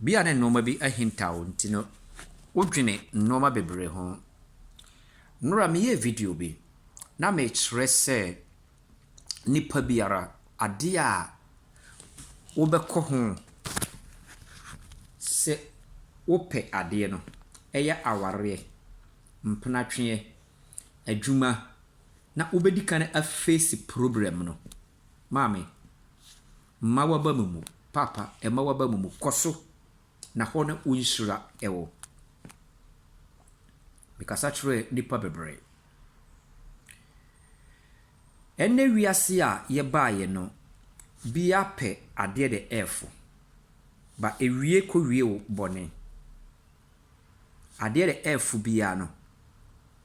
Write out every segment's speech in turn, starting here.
Ebia na nneɛma bi ahintaw wo nti no, wodwene nneɛma bebree ho. Nnora meyɛɛ video bi na mekyerɛ sɛ nipa biara ade a wobɛkɔ ho sɛ wopɛ adeɛ no, ɛyɛ awareɛ, mpenatweɛ, adwuma na wobɛdi kan afeesi problem no. Maame. Mma w'aba mu mmu. Paapa, mma w'aba mu mmu. Kɔ so, na hɔ no wo nhyira wɔ. Mekasa kyerɛɛ nnipa bebree. Ɛnnɛ wiase a yɛbaeɛ no, bia pɛ adeɛ de ɛɛfo. Ba ɛwie kɔwie wo bɔne. Adeɛ de ɛɛfo biaa no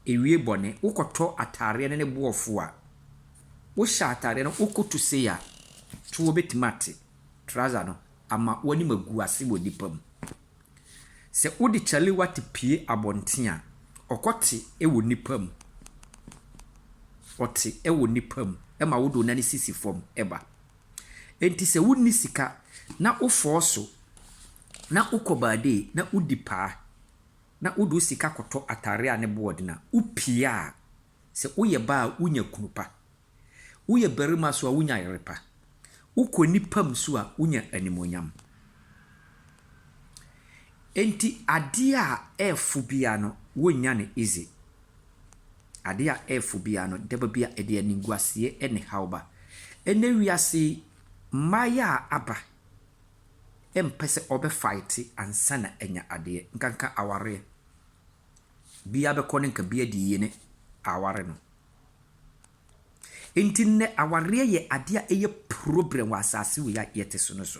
ɛwie bɔne. Wokɔtɔ ataareɛ no ne boɔ fo a, wohyɛ ataareɛ no wokɔtu sei a, toɔ bɛtumi ate trouser no ama w'anim agu ase wɔ nnipa mu. Sɛ wode kyalewa te pue abɔnten a, ɔkɔte wɔ nnipa mu. Ɔte wɔ nnipa mu ma wode wo nane sisi fam ba. Enti sɛ wonni sika na wofɔɔ so na wokɔ baadee na wodi paa na wode wo sika kɔtɔ atare a ne bo wɔ den a, wopie a, sɛ woyɛ baa a wunya kunu pa. Woyɛ barima nso a wunya yere pa. Wokɔ nnipa mu nso a wunya animuonyam. Enti adeɛ a ɛyɛ fo biara no, wonnya no easy. Ade a ɛrefo biara no, da ba bi a ɛde animguaseɛ ne haw ba. Ɛnnɛ wiase yi, mmaeɛ a aba mpɛ sɛ wɔbɛ fighte ansa na anya adeɛ. Nkanka awareɛ. Biara bɛkɔ no nka biara de yie ne aware no. Nti nnɛ awareɛ yɛ adeɛ a ɛyɛ problem wɔ asase wei a yɛte so no so.